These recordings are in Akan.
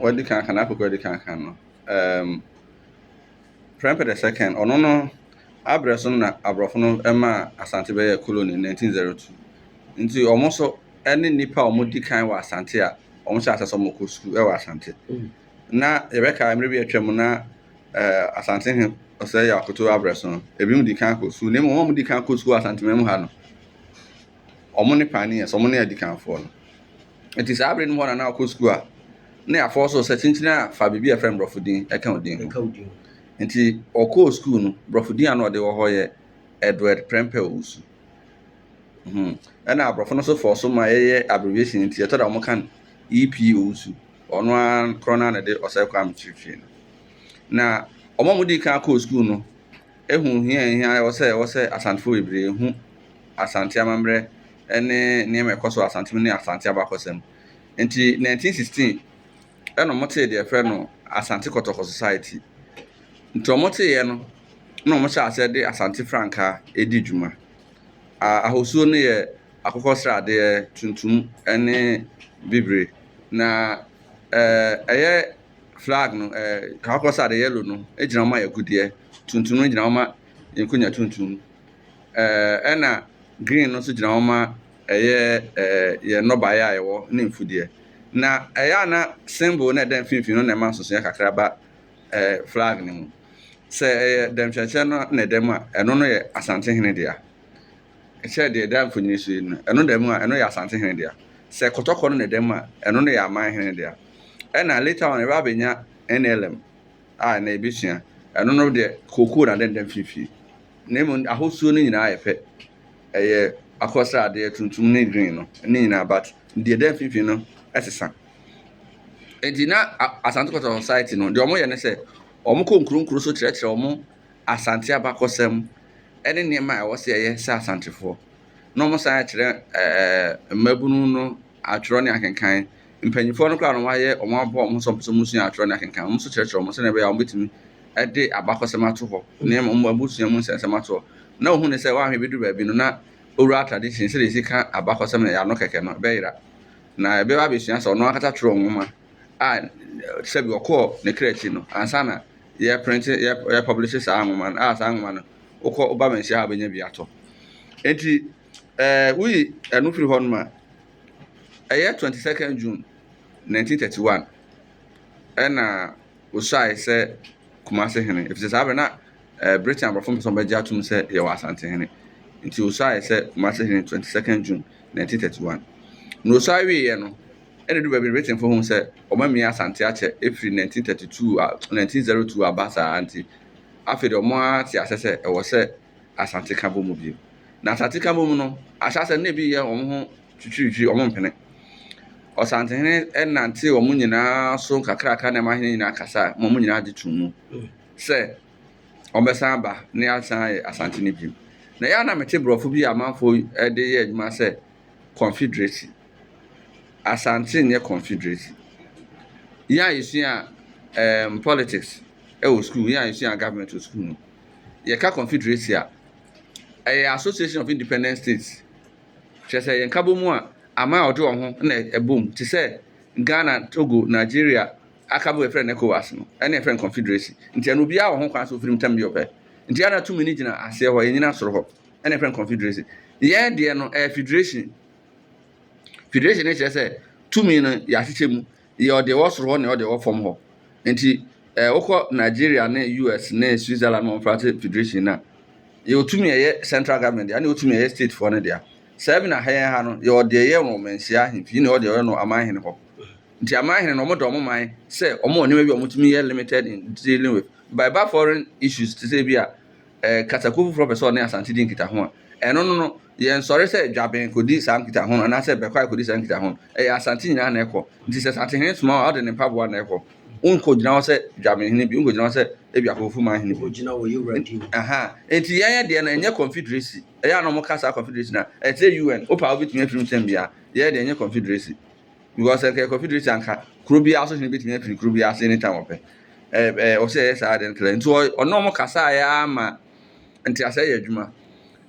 wɔde kankan akɔ kɔ de kankan no um, prɛmpɛ the second ɔno no abrɛ so na aborɔfo no ma asante bɛyɛ colony 1902 nti wɔn so ne nnipa a wɔdi kan wɔ asante a wɔn hyɛ asɛ sɛ wɔn kɔ sukuu wɔ asante mm. na yɛbɛka mmerɛ bi atwa mu na eh, asante he ɔsɛ yɛ akoto abrɛ so no ebi mu di kan kɔ sukuu na mmom wɔn di kan kɔ sukuu asante mu ha no wɔn ne pioneers, wɔn ne adikanfoɔ no. Nti saa bere no mu hɔ na na ɔkɔ sukuu a na yɛafɔ so sɛ kyinkyin a fa biribi a ɛfrɛ no borɔfo din ɛka wo din ho. Nti ɔkɔɔ sukuu no, borɔfo din a na ɔde wɔ hɔ yɛ Edward Prempeh Owusu. Hmm. Ɛna aborɔfo no nso fɔɔ so ma yɛyɛ abbreviation nti ɛtɔ da wɔn ka no EP Owusu. Ɔno ara korɔ no ara na ɛde ɔsɛe kɔ amekyerɛkyerɛ no. Na wɔn a wɔdii kan kɔɔ sukuu no Ehu hia a ehia ɛwɔ sɛ ɛwɔ sɛ Asantefo bebree hu Asante amammerɛ ne nneɛma a ɛkɔ so wɔ Asante mu ne Asante abakɔsɛm. Enti 1916 ɛna wɔtee deɛ ɛfrɛ no Asante Kɔtɔkɔ Society. Nti wɔteeɛ no na wɔhyɛ aseɛ de Asante frankaa ɛdi dwuma. A ahosuo no yɛ akokɔ sradeɛ, tuntum ne bibire. Na ɛɛ ɛyɛ Flag no, kakɔkɔ sɛ ade yellow no gyina hɔ ma agudeɛ, tuntum no gyina hɔ ma nkonya tuntum, ɛna green no nso gyina hɔ ma ɛyɛ yɛn nnɔbaeɛ a yɛwɔ ne mfudeɛ. Na ɛyɛ a na symbol no a ɛda mfimfini no na ɛma nsosoeɛ kakra ba flag no mu. Sɛ ɛyɛ dɛmkyerɛkyerɛ no na ɛda mu a, ɛno no yɛ Asantehene dea. Ɛkyɛrɛ deɛ ɛda mfoni no so yi no, ɛno da mu a, ɛno yɛ Asante hene dea. Sɛ kɔtɔkɔ no na ɛda mu a, ɛno no yɛ aman hene no dea. Ɛna later on, yɛba abɛnya NLM a ɛnɛ yɛbɛsua. Ɛno no deɛ, kookoo na ɛda mfimfini. Na mmom ahosuo no nyinaa yɛ pɛ. Ɛyɛ akokɔsradeɛ, tuntum ne green no, ne nyinaa but deɛ ɛda mfimfini no ɛsesa. Enti na Asante Kɔtɔkɔ Society no, deɛ wɔyɛ ne sɛ, wɔkɔ nkuro nkuro so kyerɛkyerɛ wɔn Asante abakɔsɛm, ne nneɛma a ɛwɔ sɛ yɛyɛ sɛ Asantefoɔ, na wɔsan akyerɛ ɛɛ mmabunu no atwerɛ ne akenkan. Mpanimfoɔ no koraa na wɔayɛ, wɔabɔ wɔn ho sɛ wɔpɛ sɛ wɔsua atwerɛ ne akenkan. Wɔn nso kyerɛkyerɛ wɔn sɛdeɛ ɛbɛyɛ a wɔbɛtumi de abakɔsɛm ato hɔ, nneɛma wɔn abusua mu nsɛnsɛm ato hɔ. Na wɔhunu sɛ wɔahwɛ bɛduru baabi no, na oral tradition, sɛdeɛ yɛsi ka abakɔsɛm no, ɛyɛ ano kɛkɛ no, ɛbɛyera. Na ɛbɛba abɛsua sɛ wɔn ankasa twerɛɛ nwoma. a sɛdeɛ ɔkɔɔ ne kra akyi no ansa na yɛreprente yɛrepublishe saa nwoma no a saa nwoma no wokɔ woba manhyia ha a wobɛnya bi atɔ nti ɛɛ woyi ɛno firi hɔ nom a ɛyɛ 22nd June 1931 ɛna wosuae sɛ Kumase hene ɛfisɛ saa bɛ na ɛɛ Britain aborɔfo mpɛ sɛ wɔbɛgye atom sɛ yɛwɔ Asante hene nti wosuae sɛ Kumase hene 22nd June 1931 na wosuae wieɛ no Ɛna edu baabi no Britainfo hu sɛ wɔamia Asante akyɛ firi 1932 a 1902 aba saa ara nti, afei deɛ wɔate aseɛ sɛ ɛwɔ sɛ Asante ka bɔ mu bio. Na Asante ka bɔ mu no, ahyɛaseɛ no na ebi yɛ wɔn ho twitwiritwiri, wɔmpene. Ɔsantehene nantee wɔn nyinaa so nkakraaka na ɛma ahene nyinaa kasaa ma wɔn nyinaa gye too mu sɛ wɔbɛsan aba na yɛasan ayɛ Asante no bio. Na ɛyɛ a na mete borɔfo bi a amanfoɔ de yɛ adwuma sɛ Confederation. Asante nyɛ Confederation. Yɛn a yɛsua um, politics wɔ sukuu, yɛn a yɛsua government wɔ sukuu no, yɛka Confederation a, ɛyɛ Association of Independent States. Kyerɛ sɛ yɛn kabɔ mu a, aman a ɔde wɔn ho na ɛbom te sɛ Ghana, Togo, Nigeria, akabɔ yɛfrɛ no ECOWAS no, ɛne yɛfrɛ no Confederation. Nti ɛno obiara wɔ ho kwan sɛ ofiri mu tam bi ɔpɛ. Nti ɛna tumi no gyina aseɛ hɔ, ɛnyina soro hɔ. ɛna ɛfrɛ no confederation yɛn deɛ no ɛyɛ federation federation no kyerɛ sɛ tumi no yɛahyehyɛ mu yɛ ɔde ɛwɔ soro hɔ na ɔde ɛwɔ fam hɔ nti ɛɛ wokɔ nigeria ne us ne switzerland wɔn fara sɛ federation na yɛ otumi ɛyɛ central government deɛ ɛna otumi ɛyɛ state foɔ no deɛ sɛ ɛbi na ha yɛn ha no yɛ ɔde ɛyɛ wɔn mɛnhyia ahemfie na ɔde ɛyɛ no aman hene hɔ nti aman hene no wɔn da wɔn man sɛ wɔn wɔ nneɛma bi a wɔtumi yɛ limited in dealing with by ba foreign issues te sɛ bi a kasakuo foforɔ pɛ sɛ ɔne Asante di nkitaho a, ɛno no no, yɛnsɔre sɛ dwaben kɔdi saa nkitaho no anaasɛ Bɛkwae kɔdi saa nkitaho no. Ɛyɛ Asante nyinaa na ɛkɔ. Nti sɛ Asantehene soma wo a, ɔde ne mpaboa na ɛkɔ. Wonkɔgyina hɔ sɛ dwabenhene bio, wonkɔgyina hɔ sɛ ebi Akofofuruman hene bio. Aha, nti yɛn deɛ no ɛnyɛ confederacy. Ɛyɛ a na wɔka saa confederacy no a, ɛkyerɛ UN. Wopɛ a wobɛtumi afiri mu sɛn biara. Yɛn deɛ ɛnyɛ confederacy. Because ɛkɛ confederate anka kuro biara so hene betumi afiri kuro biara ase anytime ɔpɛ. Ɛɛ ɛɛ ɔsɛ ɛyɛ saa de ntra. Nti ɔ- ɔne wɔn kasa yɛ ara ma nteaseɛ yɛ adwuma.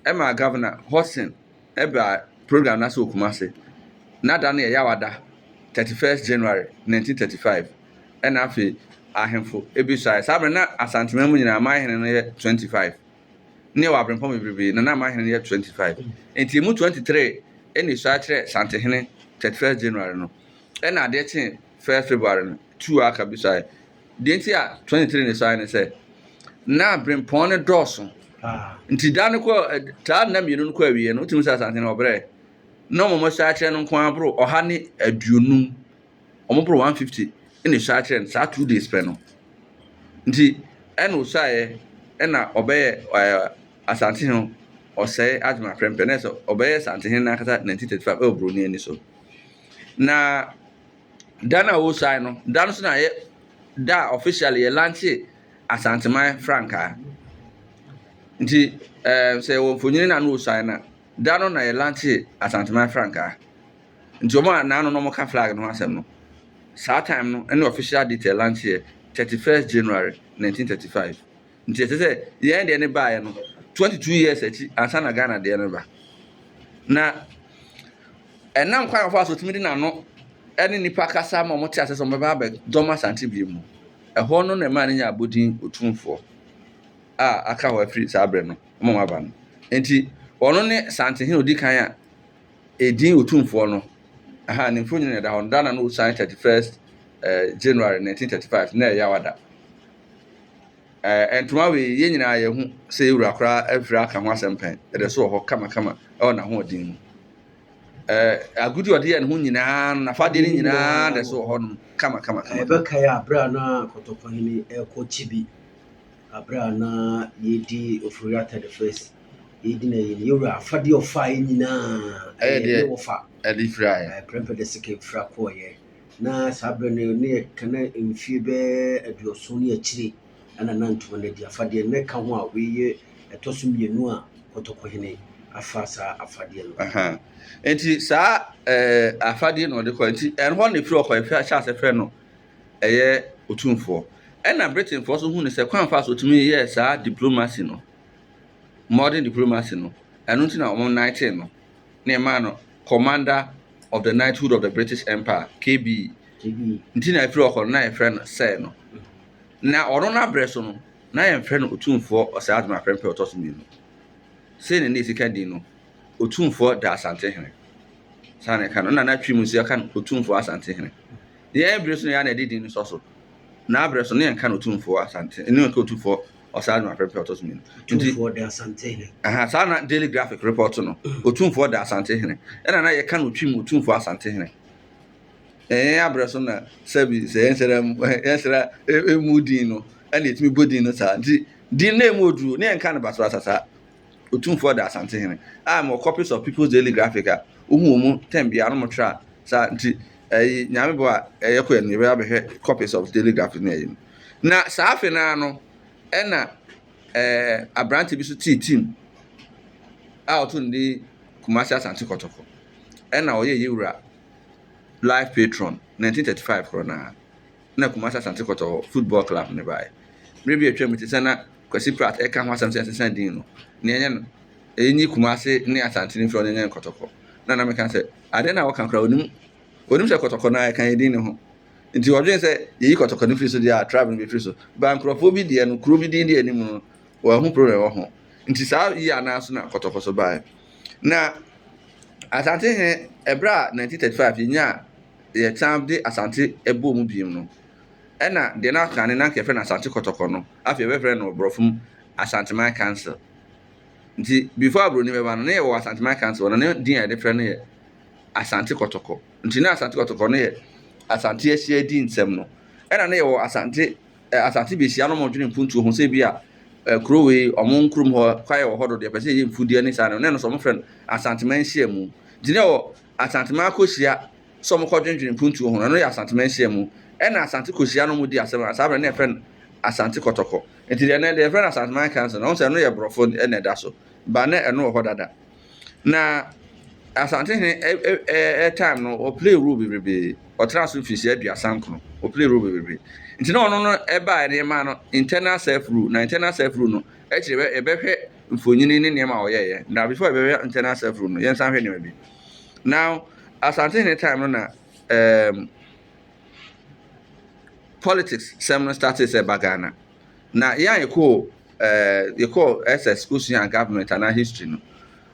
Ɛma governor Hudson ɛbaa program no ase wɔ Kumase. N'ada no yɛ Yawada, 31st January 1935. Ɛna afei ahemfo ebi suae. Saa berɛ no na Asanteman mu nyinaa aman hene no yɛ 25. ne wɔ aberempɔn bebrebe na na m'ahene no yɛ 25 nti emu 23 ɛna esua kyerɛ santehene 31st January no ɛna adeɛ kye 1st February no two a aka bi suae deɛ nti a 23 ne suae ne sɛ na aberempɔn no dɔɔso nti da no kɔ taa nna mmienu no kɔ awie no wotumi sɛ asantehene ɔbrɛ na ɔmɔmɔ sua kyerɛ no nko aboro ɔha ne aduonum wɔn boro one fifty na esuaa kyerɛ no saa two days pɛ no nti ɛna osuaeɛ ɛna ɔbɛyɛ ɛɛ asantehene ɔsɛe adwuma prɛmpɛ na ɛsɛ ɔbɛyɛ asantehene n'ankasa nineteen thirty five ɛwɔ buroni ani so na da no a ɔresuae no da no so na yɛ da a officially yɛ lanche asanteman frankaa nti ɛɛ sɛ wɔ mfonyin na ano ɔresuae na da no na yɛ lanche asanteman frankaa. Nti ɔmo a naano na ɔmo ka flag no ho asɛm no, saa time no ɛne official date a ɛlaunch yɛ thirty first January nineteen thirty five. Nti ɛkyerɛ sɛ yɛn deɛ no baeɛ no twenty two years akyi ansa na Ghana deɛ no ba. Na ɛnam kwan wɔfa so tumi de n'ano ɛne nnipa kasa ma wɔn te ase sɛ wɔn bɛba abɛ dɔm Asante bio mu. Ɛhɔ no na ɛmaa no nya abodin Otumfoɔ a aka hɔ afiri saa berɛ no wɔn a wɔaba no. Nti ɔno ne Santehene odi kan a Edin Otumfoɔ no, Aha ne mfonyin na ɛda hɔ no, da na na osian thirty first January nineteen thirty five, nna yɛ Yawa da. Ɛɛ, ntoma wei, yɛn nyinaa yɛhu sɛ yɛn wura koraa afiri aka ho asɛm pɛn, ɛda so wɔ hɔ kamakama wɔ n'ahoɔden mu. Ɛɛ, agude a ɔde yɛ ne ho nyinaa no, n'afadeɛ no nyinaa da so wɔ hɔ nom kamakama. Yɛbɛkae abere a na Kɔtɔkɔhene rekɔ Kyibi, abere a na yɛredi Ofori-Atta the First Yei di na ɛyɛ ne yɛwura afadeɛ ɔfaeɛ nyinaa ɛyɛ ne wɔfa ɛde firaeɛ ɛprɛmpɛ de sika fira kɔɔyɛ na saa berɛ no ne yɛka na mfie bɛɛ aduɔson ne akyire ɛna na ntoma no adi afadeɛ na ɛka ho a wei yɛ ɛtɔ so mmienu a kɔtɔkɔhene afa saa afadeɛ no nti saa afadeɛ na ɔde kɔ nti ɛno hɔ na ɛfiri ɔkɔ ɛfɛ ahyɛ asɛ frɛ no ɛyɛ otumfoɔ ɛna britainfoɔ so hu ne sɛ kwan fa so tumi yɛ saa diplomacy no modern diplomacy no, ɛno nti na wɔn knighting no na ɛmaa no Commander of the Knighthood of the British Empire, KBE. KBE. Nti na ɛfiri ɔkɔ no na yɛfrɛ no Sir no. Na ɔno n'abrɛ so no, na yɛmfrɛ no Otumfoɔ Ɔsɛe Adom Aprempeh ɔtɔ so mmienu. Sei na ne ɛsi ka din no, Otumfoɔ da Asantehene. Saa na ɛka no, na n'atwi mu nso yɛka no Otumfoɔ Asantehene. Yɛn bere so na yɛa na ɛde din no sɔ so. N'abrɛ so na yɛnka no Otumfoɔ Asante, ne yɛnka Otumfoɔ ɔsan no apɛpɛ ɔtɔ so mmienu tumfoɔ de asante hene aha saa na daily graphic report no mm. otumfoɔ de asante hene ɛna na yɛka no twi mu otumfoɔ asante hene ɛyɛn abrɛ so na sɛbi sɛ yɛn sɛra mu yɛn sɛra emu din no ɛna etumi bɔ din no saa nti din na emu oduro ne yɛn ka no basra sasa otumfoɔ de asante hene a mo copies of people's daily graphic a ohun wɔn mu tɛn bia no mo tra saa nti ɛyi nyame bɔ a ɛyɛ kɔ yɛn no yɛbɛyɛ abɛhwɛ copies of daily graphic na ɛyɛ no. Na saa afe no ara no, ɛnna aberante bi nso tee tim a ɔto no din Kumasi Asante Kɔtɔkɔ. Ɛnna ɔyɛ yɛn wura life patron 1935 korɔ no ara. Na Kumasi Asante Kɔtɔkɔ football club no baeɛ. Berɛ bi a atwam te sɛ na Kwasi Pratt reka ho asɛm sɛ yɛnsesa din no, nea ɛnyɛ no ɛnyi Kumasi ne Asante no mfiri ɔnyɛ nyɛ Nkɔtɔkɔ. Na na meka sɛ, adeɛ no a wɔka koraa ɔnim, ɔnim sɛ Kɔtɔkɔ no ara yɛka yɛn din no ho. Enti wɔdwen sɛ yeyi kɔtɔkɔ no firi so deɛ a tribe no bɛfiri so ba nkurɔfoɔ bi deɛ no kuro bi din di anim no wɔahu problem wɔ ho nti saa yi anaa so na kɔtɔkɔ so baeɛ na asante he ɛberɛ a 1935 yɛnyaa yɛsan de asante ɛbɔɔ mu biem no ɛna deɛ no aka ne na nka yɛfrɛ no asante kɔtɔkɔ no afei yɛbɛfrɛ no borɔfo mu asanteman council nti before aburoni bɛba no na yɛwɔ asanteman council na ne din a yɛde frɛ no yɛ asante kɔtɔkɔ Nti na Asante Kɔtɔkɔ no yɛ Asante Asia di nsɛm no. Ɛna na yɛwɔ Asante eh, Asante Besia no mo dwene mpuntuo ho sɛ bi a eh, kuro wei ɔmo nkurom hɔ kwaeɛ wɔ hɔ dodo yɛpɛ sɛ yɛyɛ mfudeɛ ne saa no ne no sɛ ɔmo frɛ no Asanteman nhyiamu. Nti na yɛwɔ Asanteman akɔhyia sɛ ɔmo kɔ dwendwene mpuntuo ho no ɛno yɛ Asanteman nhyiamu. Ɛna Asante kɔhyia no ɔmo di asɛm a saa berɛ na yɛfrɛ no Asante Kɔtɔkɔ. Nti deɛ ɛnɛ deɛ yɛfrɛ no Asanteman Council no ɔmo sɛ ɛno yɛ borɔfo ɛna ɛda so ba na ɛno wɔ hɔ dada. Na Asantehene ɛ ɛ ɛ ɛ time no ɔplay role bebrebe ɔtena so mfirihyia aduasa nkono ɔplay role bebrebe nti na ɔno no ɛbaa ne yɛmaa no internal self rule na internal self rule no ɛkyerɛ yɛbɛhwɛ mfonyini ne nneɛma a ɔyɛɛyɛ na before yɛbɛhwɛ internal self rule no yɛnsan hwɛ nneɛma bi now Asantehene time no na ɛɛm politics sɛm no started sɛ ba Ghana Na yɛn a yɛkɔɔ ɛɛ yɛkɔɔ SS kɔsuaa government anaa history no,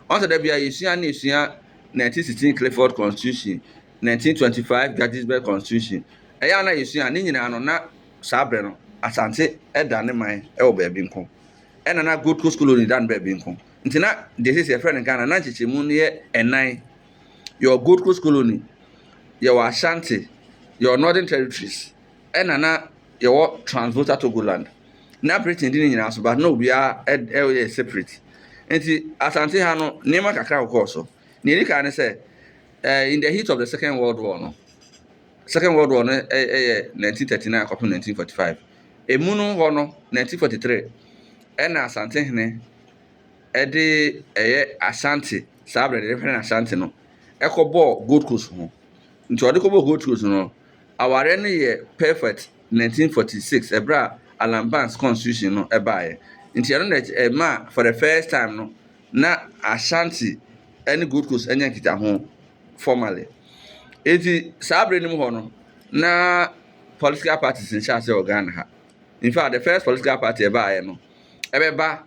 wɔn sɛ da biara yɛsua ne yɛsua 1916 Clifford Constitution, 1925 Gettysburg Constitution. Ɛyɛ a na yɛsua ne nyinaa no na saa berɛ no Asante da ne man wɔ baabi nko, ɛna na Gold Coast Colony da no baabi nko. Nti na deɛ sɛ yɛfrɛ no Ghana na nkyekyɛmu no yɛ ɛnan. Yɛwɔ Gold Coast Colony, yɛwɔ Ashanti, yɛwɔ Northern Territories. ɛna na yɛwɔ Transvolta Togoland. Na Britain di ne nyinaa so, but na obiara yɛ separate. Nti Asante ha no, nneɛma kakra kɔkɔɔ so. Nea ɛdi kan ne sɛ, eh, in the heat of the Second World War no, Second World War no yɛ 1939 kɔpem 1945. Emu no hɔ no, 1943, ɛna Asante hene ɛde ɛyɛ Ashanti saa berɛ de hwɛ Ashanti no ɛkɔbɔɔ Gold Coast ho nti ɔde kɔbɔɔ Gold Coast no Awareɛ no yɛɛ perfect 1946 ɛberɛ a Allan Banks Constitution no baeɛ, nti ɛno na ɛmaa for the first time no na Ashanti ne Gold Coast anya nkitaho formally. Nti saa berɛ no mu hɔ no na political parties nhyɛ aseɛ wɔ Ghana ha. In fact, the first political party ɛbaeɛ no ɛbɛba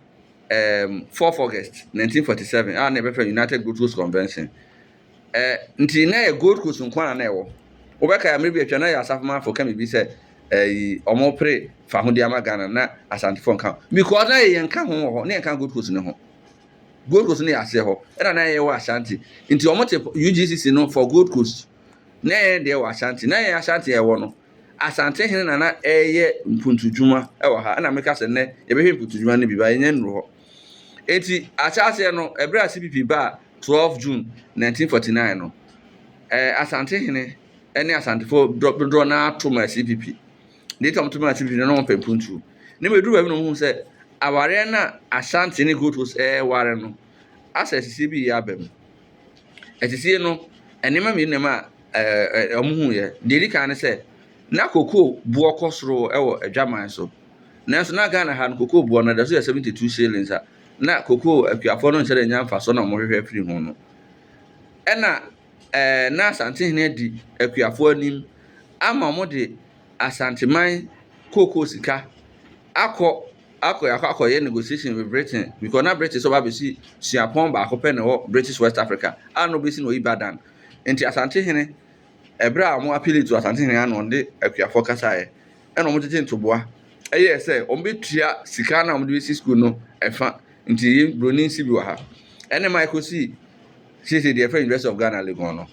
um, 4 August 1947 a na ɛbɛfrɛ United Gold Coast Convention. Ɛɛ nti na yɛ Gold Coast nko ara na ɛwɔ. Wobɛkae a mmerɛ bi atwa na yɛ Asafomanfoɔ ka biribi sɛ ɛyi wɔrepere fahodie ama Ghana na Asantefoɔ nka ho because na yɛyɛ nka ho wɔ hɔ na yɛnka Gold Coast no ho. Gold Coast no yɛ aseɛ hɔ ɛna na yɛwɔ Ashanti nti wɔte UGCC no for Gold Coast na yɛn deɛ wɔ Ashanti na yɛn Ashanti a ɛwɔ no Asante hene na na ɛyɛ mpuntudwuma ɛwɔ ha ɛna meka sɛ nnɛ yɛbɛhwɛ mpuntudwuma no bi ba yɛnya nnuru hɔ. Enti ahyɛaseɛ no, ɛberɛ a CPP baa 12 June 1949 no, ɛɛ Asante hene ne Asantefoɔ dodoɔ no ara to maa CPP. Deɛ nti a wɔto maa CPP no, na wɔpɛ mpuntuo. Na mmom ɛduru baabi na wɔhunu sɛ awareɛ no a Ashanti ne Gotos reware no asɛ asisie bi reyɛ aba mu. Asisie no, nneɛma mmienu na ɛma ɛɛ wɔhunuiɛ. Deɛ ɛdi kan ne sɛ, na kokoo boɔ kɔ soro wɔ adwaman so. Nanso na Ghana ha no cocoa boɔ no da so yɛ 72 shillings a na cocoa akuafoɔ no nhyɛ da nya mfasoɔ na wɔhwehwɛ firi ho no. Ɛna ɛɛ na Asantehene adi akuafoɔ anim ama wɔde Asanteman cocoa sika akɔ akɔ akɔ akɔyɛ negotiation with Britain because na British ɔba bɛsi suapɔn baako pɛ na ɛwɔ British West Africa a na ɔbɛsi no Ibadan. Nti Asantehene ɛberɛ a wɔn appeal to Asantehene ano wɔde akuafoɔ kasaeɛ na wɔtete ntoboa. Ɛyɛɛ sɛ wɔbetua sika no a wɔde besi sukuu no ɛfa. Nti yei broni nsi bi wɔ ha. Ɛne ma ɛkɔsi seisei deɛ yɛfrɛ University of Ghana Legon no.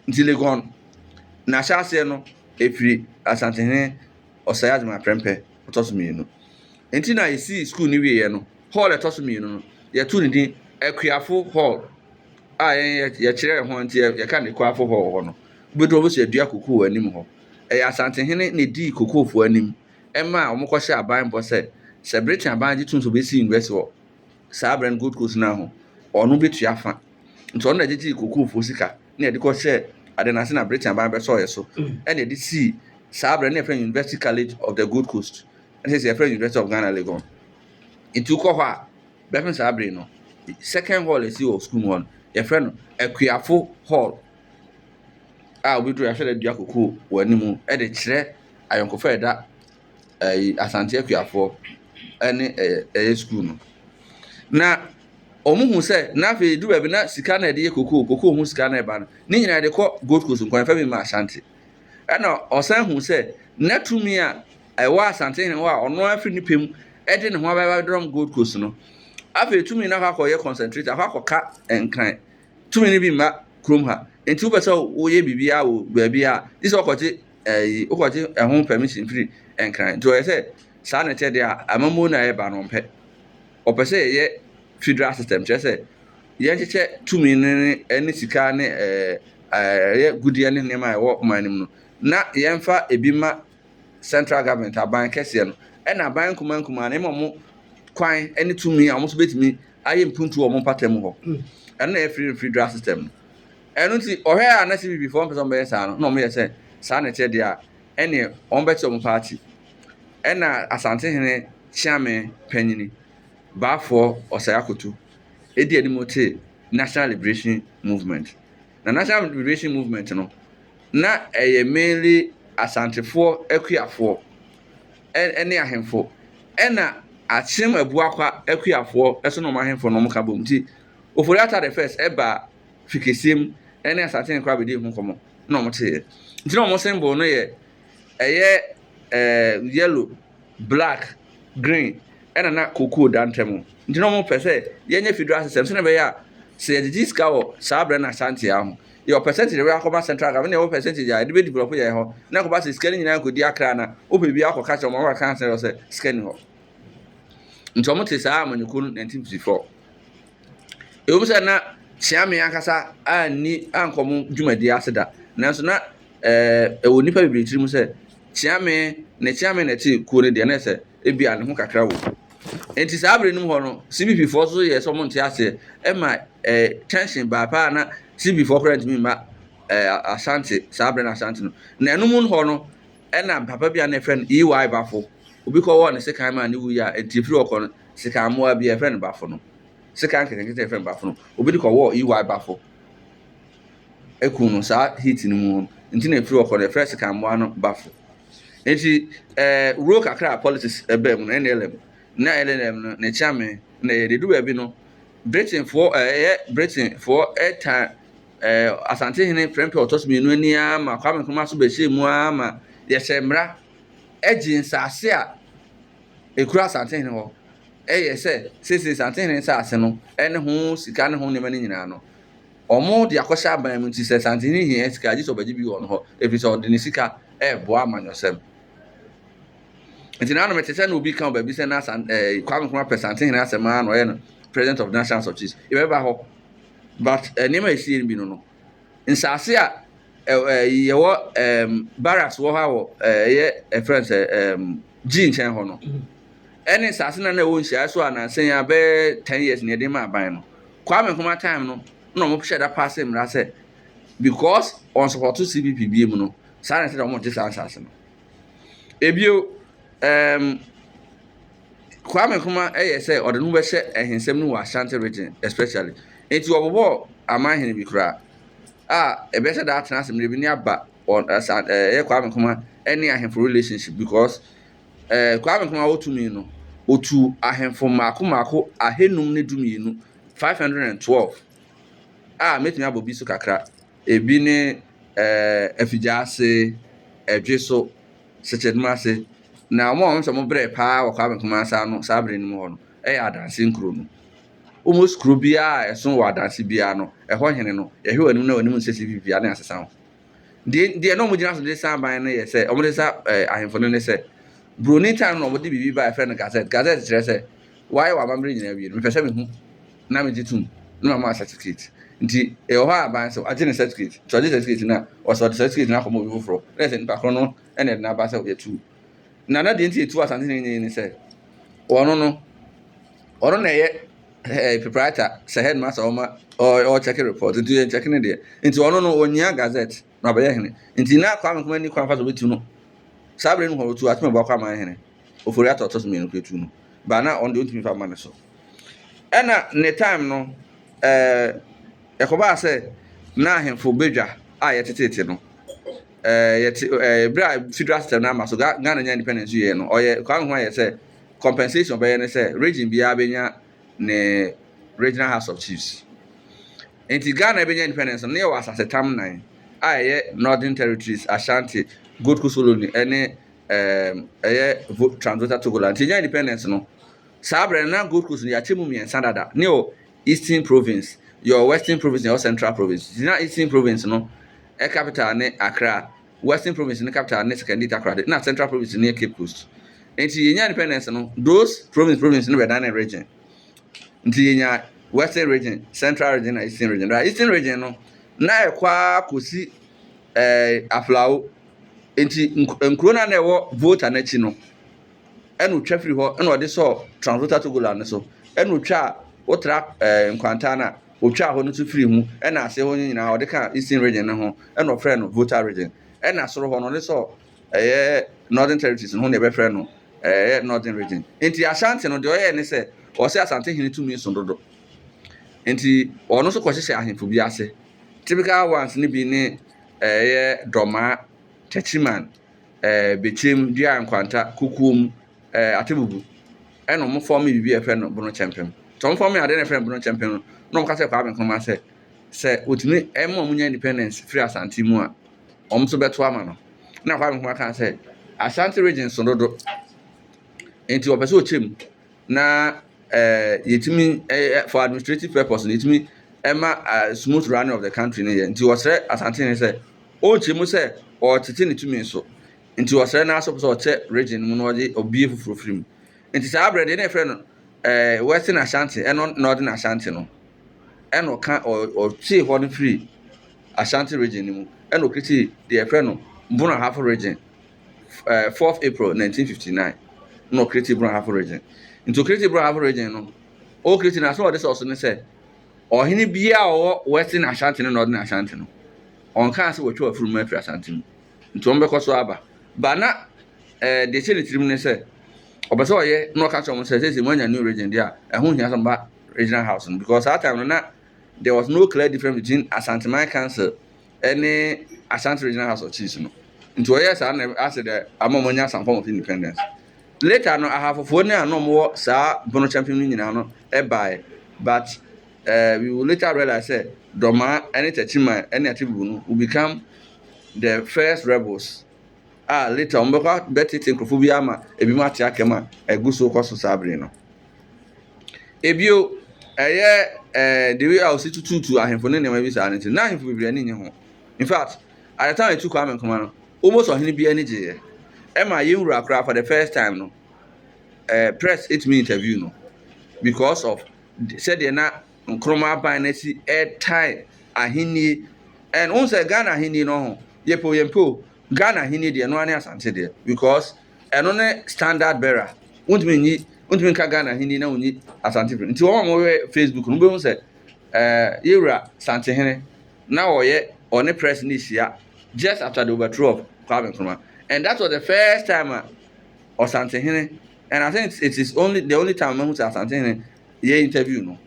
Nti Legon n'ahyɛaseɛ no ɛfiri Asantehene Osei Agyemang Prempeh ɔtɔ so mmienu. Nti na yɛsii sukuu no wieɛ no, hall a ɛtɔ so mmienu no yɛtoo ne din Akuafo Hall a yɛn yɛkyerɛɛ ho nti yɛka no Ekuafo Hall wɔ hɔ no. Wobɛduru hɔ a, wobɛhu sɛ yɛadua kokoo wɔ anim hɔ. Ɛyɛ Asantehene na ɛdii kokoofoɔ anim ma a wɔkɔhyɛɛ aban bɔ sɛ, sɛ Britain aban gye tom sɛ wɔbɛsi University wɔ saa berɛ no Gold Coast no ara ho, ɔno bɛtua fa. Nti ɔno na gyegyee kokoofoɔ sika na yɛde kɔhyɛɛ adeɛ no ase na Britain aban bɛsɔɔ yɛn so na yɛde sii saa berɛ no na yɛfrɛ no University College of the Gold Coast ɛna seisei yɛfrɛ no University of Ghana Legon. Nti wokɔ hɔ a, bɛpem saa bere no, second hall a ɛsi wɔ sukuu mu hɔ no, yɛfrɛ no Akuafo Hall. a obi duru a yɛahyɛ no dua kɔkɔɔ wɔ anim de kyerɛ ayɔnkofa a ɛda ɛyi Asante Akuafoɔ ne ɛyɛ ɛyɛ sukuu no. Na wɔhu sɛ na afei du baabi na sika na yɛde yɛ kɔkɔɔ kɔkɔɔ ho sika na ɛba no ne nyinaa yɛde kɔ Gold Coast nkwan fam ma Asante. Ɛna ɔsan hu sɛ na tumi a ɛwɔ Asante hene hɔ a ɔno afiri ne pɛ mu de ne ho abɛdɔm Gold Coast no afei tumi no akɔ akɔyɛ concentrate akɔ akɔka nkran. tumi no bi mma kurom ha. Nti wopɛ sɛ woyɛ biribiara wɔ baabi a, gye sɛ wokɔgye ɛyi, eh, wokɔgye ɛho permission firi nkran. Nti wɔyɛ sɛ saa na ɛteɛ deɛ a, amammuo no a ɛreba no ɔmpɛ. Ɔpɛ sɛ yɛyɛ federal system, kyerɛ sɛ yɛnkyekyɛ tumi no ne ne sika ne ɛɛ ɛyɛ gudeɛ ne nneɛma a ɛwɔ man no mu no na yɛmfa ebi ma central government aban kɛseɛ no ɛna aban nkumaa nkumaa no ɛma wɔn kwan ne tumi a wɔn nso bɛtumi ayɛ mpuntu wɔ wɔn mpatamu hɔ. Ɛno na ɛyɛ free refree draft system no. Ɛno nti ɔhwɛ a na CPP foɔ mpɛ sɛ wɔbɛyɛ saa no na wɔyɛ sɛ saa na ɛkyɛ deɛ a ɛne wɔbɛkyɛ wɔn paati. Ɛna Asantehene Kyeame panyini Baafoɔ Ɔsɛe Akoto ɛdi anim te National Liberation Movement. Na National Liberation Movement no na ɛyɛ mainly Asantefoɔ akuafoɔ ne ahemfo, ɛna Akyem Abuakwa akuafoɔ nso ne wɔn ahemfo no ka bom. Nti Ofori-Atta the First baa Fikesiem ne Asantehene koraa bɛdii ho nkɔmmɔ na wɔteeɛ. Nti na wɔn symbol no yɛ ɛyɛ ɛɛ yellow, black, green ɛna na cocoa da ntam. Nti na wɔpɛ sɛ yɛnyɛ federal system sɛdeɛ ɛbɛyɛ a sɛ yɛgyegye sika wɔ saa berɛ no Asante ara ho yɛwɔ percentage ɛwɔ akɔma central government na ɛwɔ percentage a ɛde bɛ develop yɛ hɔ na ɛkɔba sɛ sika no nyinaa kɔdi akra na wopɛ bi akɔ kakyɛ wɔn akɔka asɛn wɔ sɛ sika ni hɔ nti wɔn te saa amanyɔkuo no 1954 ɛwɔ mu sɛ na kyeame ankasa anni ankɔ mo dwumadie ase da nanso na ɛɛ ɛwɔ nipa bebree tiri mu sɛ kyeame ne kyeame na ɛte kuo no deɛ na ɛsɛ ebi a ne ho kakra wɔ nti saa abiri no mu hɔ no cbp foɔ so yɛ sɛ wɔn nte aseɛ ɛma eh, kyɛnse baa paa na CBfoɔ koraa ntumi mma eh, Asante saa berɛ no Asante no na ɛno mu hɔ no ɛna papa bi a na ɛfrɛ no EY Bafo obi kɔ wɔɔ ne sekan maa ne wuyi a nti ɛfiri ɔkɔ no sekan mmoa bi ɛfrɛ no Bafo no sekan kɛtɛkɛtɛ ɛfrɛ no Bafo no obi de kɔ wɔɔ EY Bafo ɛku no saa heat no mu hɔ nti na ɛfiri ɔkɔ no ɛfrɛ sekan mmoa no Bafo nti eh, wuro kakra a politics ɛbaa mu no NLM na LLM no ne kyame na yɛde du baabi no Britainfoɔ ɛyɛ Britainfoɔ ɛtaa ɛɛ Asantehene prɛmpɛ ɔtɔ so mmienu ani ara ma Kwame Nkrumah so bɛhyɛɛ mu ara ma yɛhyɛɛ mmra ɛgyee nsaase a ɛkura Asantehene hɔ ɛyɛ sɛ seisei Asantehene nsaase no ɛne ho sika ne ho nneɛma no nyinaa no wɔn de akɔhyɛ aban mu nti sɛ Asantehene hia sika gyesɛ ɔbɛgye bi wɔ wɔn hɔ ɛfiri sɛ ɔde ne sika ɛɛboa amanyɔsɛm. Nti na no mete sɛ na obi ka wɔ baabi sɛ na san ɛɛ Kwame Nkrumah pɛ Santehene asɛm ara na ɔyɛ no president of National House of Chiefs. Yɛbɛba hɔ but eh, nneɛma a ɛsie no bi no no nsaase a ɛɛ yɛwɔ ɛɛm barracks wɔ hɔ a wɔ ɛyɛ ɛfrɛ no sɛ ɛɛm gyi nkyɛn hɔ no ɛne nsaase na na ɛwɔ nhyiaeɛ so a nansan a bɛyɛ ten years na yɛde ma aban no Kwame Nkrumah time no na wɔn hyɛ da paase mmara sɛ because wɔn sɔpɔto CPP bie mu no saa na ɛsɛ sɛ wɔn gye saa nsaase no. Ebio, ɛɛm, Kwame Nkrumah ɛyɛ sɛ ɔde ne ho bɛhyɛ ahensɛm no mu wɔ Ashanti region especially. Enti ɔbobɔɔ aman hene bi koraa a ɛbɛhyɛ da atena ase mmerɛ bi ne aba wɔn ɛsa ɛyɛ Kwame Nkrumah ɛne ahemfo relationship because ɛɛ Kwame Nkrumah wɔ tumi no otu ahemfo mmaako mmaako ahenum ne du mmienu, five hundred and twelve, a mɛtumi abɔ bi so kakra. Ebi ne afigya ase, ɛdwe so, sɛkyɛdum ase. Na wɔn a wɔn sɛ wɔn brɛ paa wɔ Kwame Nkrumah nsa ano saa bere no mu hɔ no yɛ Adanse nkuro no. Almost kuro biara a ɛso wɔ Adanse biara no, ɛhɔ hene no, yɛhwɛ wɔn anim na wɔn anim nsɛ sɛ biribiara ne asesa ho. Deɛ deɛ na wɔn gyina so de sa aban no yɛ sɛ, wɔn de sa ahemfo no ne sɛ, Buroni time no wɔn de biribi ba yɛfrɛ no Gazette. Gazette kyerɛ sɛ Wɔayɛ wɔn amammerɛ nyinaa awie no, mepɛ sɛ mehu na megye tom na mama wɔn certificate. Nti ɛwɔ hɔ a aban sɛ wagye ne certificate. Nti ɔgye certificate no a, ɔsɛ ɔde certificate no akɔma obi foforɔ. Na ɛsɛ nipa korɔ no na ɛde no aba sɛ yɛtu. Na na deɛ nti yɛtu Asante no nyinaa ne sɛ, ɔno no, ɔno na ɛyɛ eh, proprietor sɛ headmaster ɔma ɔkyɛke report. Nti yɛnkyɛke ne deɛ. Nti ɔno no, ɔnyia gazette. na ɔbɛyɛ hene. Nti na Kwame Nkrumah nni kwan fa so bɛtu no. Saa berɛ no mu hɔ ɔtu Atwam Abuakɔ Aman hene, Ofori Atta ɔtɔ so mmienu kura tu no. Baa na ɔno deɛ ɔntumi fa mma ne so. Ɛna ne time no, ɛɛ, ɛkɔbaa sɛ na ahemfo badwa a yɛtetete no, ɛɛ, yɛte, ɛɛ, berɛ a federal system no ama so, Ghana nya independence yɛ no, ɔyɛ, Kwame Nkrumah yɛ sɛ compensation ɔbɛyɛ ne sɛ region biara bɛnya ne Regional House of Chiefs. Enti Ghana bɛnya independence no, na yɛwɔ asasetam nnan a ɛyɛ Northern Territories, Ashanti, Gold Coast Colony ne ɛɛm ɛyɛ Vo Transvolta Togoland. Nti yɛnya independence no, saa berɛ no na Gold Coast no yɛakyɛ mu mmiɛnsa dada. Ne yɛwɔ Eastern Province, yɛwɔ Western Province na yɛwɔ Central Province. Nti na Eastern Province no capital ne Accra. Western Province no capital ne Sekondi Takoradi nna Central Province no yɛ Cape Coast. Ntsi yenya independence no, those province province no bɛdanee region. Ntsi yenya Western Region, Central Region na Eastern Region. Daa Eastern Region no, nna ɛkɔ ara kosi ɛɛ Aflao. Ntsi nkuro no a nna ɛwɔ Volta no akyi no, ɛna otwa firi hɔ na ɔde sɔɔ Transvolta Togoland no so, ɛna otwaa otra ɛɛ Nkwanta no a. Ɔtwaa hɔ no nso firii mu, ɛna aseɛ hɔ no nyinaa ɔde kaa Eastern Region no ho, ɛna ɔfrɛɛ no Volta Region. Ɛna soro hɔ no ɔde sɔɔ ɛyɛ Northern Territories no ho na yɛbɛfrɛ no ɛyɛ Northern Region. Nti Ashanti no deɛ ɔyɛɛ ne sɛ ɔsɛ Asante hene tumi so dodo. Nti ɔno nso kɔhyehyɛ ahemfo bi ase. Typical ones no bi ne ɛyɛ Dɔmaa, Techiman, ɛɛ Bekyem, Dua Nkwanta, Kokoom, ɛɛ atebubu ɛna wɔn fɔm biribi a yɛfrɛ no bono kyɛnpɛm nti wɔn fɔm adeɛ na yɛfrɛ no bono kyɛnpɛm no na wɔn ka kyerɛ Kwame Nkrumah sɛ sɛ otumi ɛma wɔn nya independence firi Asante mu a wɔn nso bɛto ama no na Kwame Nkrumah kan sɛ Asante region so dodo nti wɔpɛ sɛ ɔkyɛ mu na ɛɛ yɛtumi ɛɛ for administrative purpose na yɛtumi ɛma ɛɛ smooth running of the country no yɛ nti wɔsrɛ Asante ne sɛ ɔnkyɛ mu sɛ ɔretete ne tumi so. Ntsi ɔsɛɛ n'aso pɛ sɛ ɔkyɛ region no mu na ɔdze obue fofor fir mu. Ntsi saa aber no dze nna yɛfrɛ no eh Western Ashanti, ɛno na ɔdze n'Ashanti no na ɔkã ɔ ɔtwee hɔ no firii Ashanti region no mu na oketsii dza yɛfrɛ no Bono Ahafo region eh fourth April nineteen fifty nine na ɔkretsii Bono Ahafo region. Ntsi okretsi Bono Ahafo region no, okretsi no a so ɔdze sɛ ɔso nye sɛ ɔhen biara a ɔwɔ Western Ashanti no na ɔdze n'Ashanti no, ɔnnkãa sɛ wɔtwaa fir mu efir Ashanti mu. Nti wɔn bɛkɔ so aba. Ba na eh, deɛ ɛhyɛ ne tirim ne sɛ, ɔpɛ sɛ ɔyɛ na ɔka kyerɛ wɔn sɛ, sɛsɛ moanya new region deɛ a, ɛho hia sɛ ɔba regional house no. Because saa time no na there was no clear difference between Asanteman Council ne Ashanti Regional House of Chiefs no. Nti ɔyɛ saa na asɛ dɛ ama wɔn anya some form of independence. Later no, ahafofoɔ ne a na wɔn wɔ saa bono kyɛmpem no nyinaa no ɛbaeɛ. But uh, we will later realize sɛ Dɔmaa ne Takyiman ne Atebubu no will become The first rebels a later wɔn bɛkɔ bɛtete nkurɔfoɔ bi ama ebinom ate akɛm a ɛgu so kɔ so saa bere no. Ebio ɛyɛ ɛɛ the way a wɔsi tututu ahemfo ne nneɛma bi saa no nti na ahemfo bebree ani nye ho in fact at the time etu Kwame Nkrumah no almost ɔhene bi ani gyeeɛ ɛma yɛn wura koraa for the first time no ɛɛ press etumi interview no because of sɛdeɛ na. Nkrumah aban no asi retan ahenni. And wohu sɛ Ghana ahenni no ho, yɛpɛ o yɛmpɛ o, Ghana ahenni deɛ, ɛno ara ne Asante deɛ. Because ɛno ne standard bearer. Wontumi nyi, wontumi nka Ghana ahenni na wonyi Asante firi. Nti wɔn a wɔhwɛ Facebook no, wobɛhu sɛ ɛɛ eh, yɛwura Santehene na ɔyɛ ɔne press no hyia just after the overthrow of Kwame Nkrumah. And that was the first time a Ɔsantehene and I think it is only the only time mahu sɛ Asantehene yɛ interview no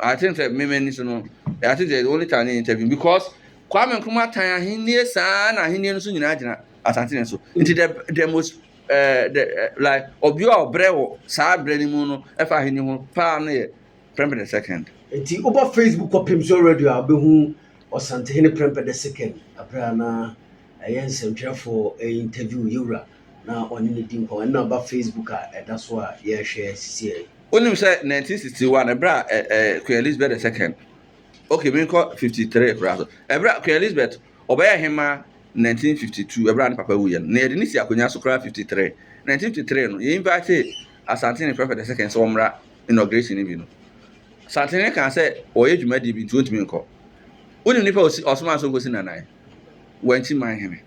i think sɛ mmɛmɛ ni so no i think sɛ the only time ne interview because kwame nkrumah tan ahenni saa na ahenni no so nyinaa gyina asante ne so nti the the most ɛɛ the eh, like ɔbea a ɔbrɛ wɔ saa brɛ no mu no ɛfa ahenni ho paa no yɛ prɛmpɛ the second. nti wobɔ facebook kɔ pem so radio a wobɛhu ɔsantehene prɛmpɛ the second abere anaa. Ɛyɛ nsɛntwerɛfoɔ interview yɛwura na ɔne no di nkɔmmɔ. Ɛno na ɛba Facebook a ɛda so a yɛrehwɛ sisiɛ yi. Wonim sɛ 1961 ɛberɛ a ɛ ɛ Queen Elizabeth the second okay menkɔ 53 koraa so ɛberɛ a Queen Elizabeth ɔbɛyɛ hemaa 1952 ɛberɛ a ne papa wuiɛ no na yɛde ne si akonnwa so koraa 53 1953 no yɛ invite Asantene Prefect the second sɛ ɔmmra inauguration no bi no Asantene kaa sɛ ɔyɛ dwumadie bi nti ɔntumi nkɔ wonim nipa a ɔsi ɔsomaa sɛ ɔnkɔsi Nanae wankyi man hene.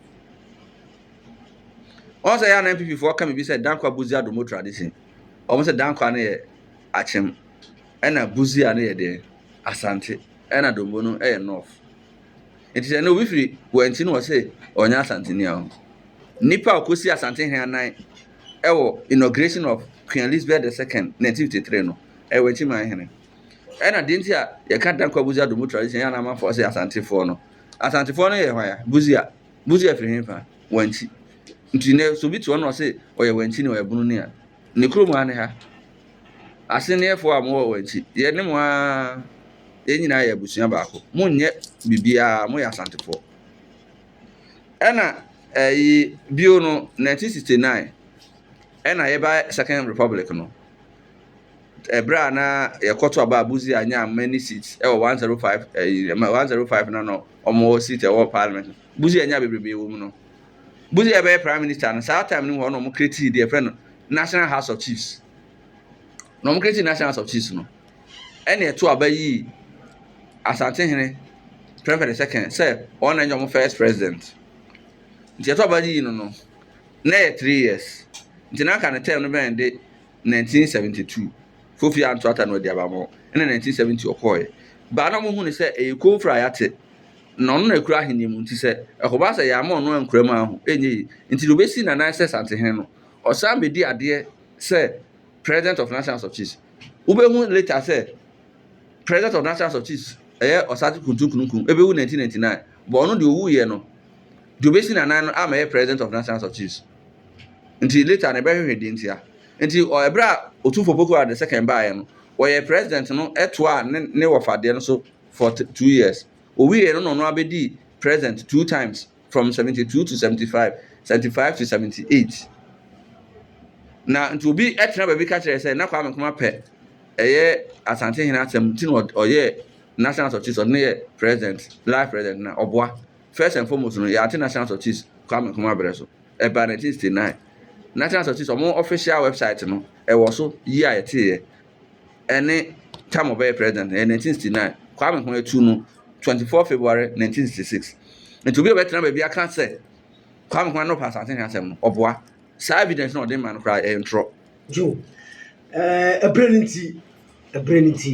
Wɔn sɛ yɛn NPP foɔ ka biribi sɛ dankwa buzi adomo tradition. Wɔn sɛ dankwa no yɛ akyem, ɛna buzi a no yɛ deɛ asante, ɛna dombo no yɛ north. Nti sɛ no obi firi wankyi no wɔ sɛ ɔnyɛ asante ni aho. Nipa a ɔkɔsi asante hɛn anan ɛwɔ inauguration of Queen Elizabeth the second 1953 no ɛyɛ wankyi man hene. Ɛna deɛ nti a yɛka dankwa buzi adomo tradition yɛn amanfoɔ sɛ asante foɔ no Asantefoɔ no yɛ hwan a? Buzia. Buzia firi hefa? Wanti. Nti nɛ sɛ obi te hɔ na ɔse ɔyɛ Wanti ni, ɔyɛ bunu ni a, ne kurom ha ne ha. Asenneɛfoɔ a mowɔ Wanti, yɛ ne mo ara, yɛn nyinaa yɛ abusua baako. Monyɛ biribiara, moyɛ Asantefoɔ. Ɛna ɛyi bio no, 1969, ɛna yɛba Second Republic no, Ɛberɛ a na yɛkɔto aba a Busia nyaa many seats ɛwɔ one zero five ɛyi ɛma one zero five no no wɔn seat ɛwɔ parliament no Busia nyaa bebrebe wɔ mu no Busia bɛyɛ prime minister no saa time no mu hɔ na wɔn create deɛ fɛ no national house of chiefs na wɔn create national house of chiefs no ɛna ɛto aba yi Asantehene Prempeh the second sɛ wɔn na nyɛ wɔn first president nti ɛto aba yi no no na yɛ three years nti na aka ne term no bɛn de. nineteen seventy two Kofi anto ata no adi aba mo ɛna nineteen seventy ɔkɔɔɛ baa na ɔmo hu ne sɛ ɛyɛ kofra a yate na ɔno na ɛkura ahenni mu nti sɛ ɛkɔba sɛ yɛama ɔno ankura mu aho ɛnyɛ yi nti na ɔbɛsi na nan sɛ santehene no ɔsan bɛdi adeɛ sɛ president of national house of chiefs wobɛhu later sɛ president of national house of chiefs ɛyɛ ɔsate kuntunkunukun ɛbɛwu nineteen ninety nine bɔ ɔno deɛ ɔwuiɛ no deɛ ɔbɛsi na nan no ama ɛyɛ president of national house of chiefs. Nti later no yɛbɛhwehwɛ deɛ ntia. Nti ɛberɛ a Otumfoɔ Poku Ado II baeɛ no, ɔyɛɛ president no toaa ne ne wɔfa deɛ no so for two years. Ɔwieeɛ no na ɔno ara bɛdii president two times from seventy two to seventy five, seventy five to seventy eight. Na nti obi tena baabi ka kyerɛ sɛ na Kwame Nkrumah pɛ ɛyɛ Asantehene asɛm nti na ɔyɛɛ national security ɔde no yɛ president, life president na ɔboa First and foremost no, yɛate National Sorties Kwame Nkrumah berɛ so, ɛbaa 1969. National Sorties, wɔn official website no, ɛwɔ so year a yɛteeɛ, ɛne tam ɔbɛyɛ president no, ɛyɛ 1969. Kwame ho atu no 24 February 1966. Nti obi a ɔbɛtena baabi aka sɛ Kwame Nkrumah na ɔpɛ asase ho asɛm no, ɔboa. Saa evidence no a ɔde ma no koraa, ɛyɛ ntorɔ. Joe, ɛɛ, ɛberɛ no nti, ɛberɛ no nti.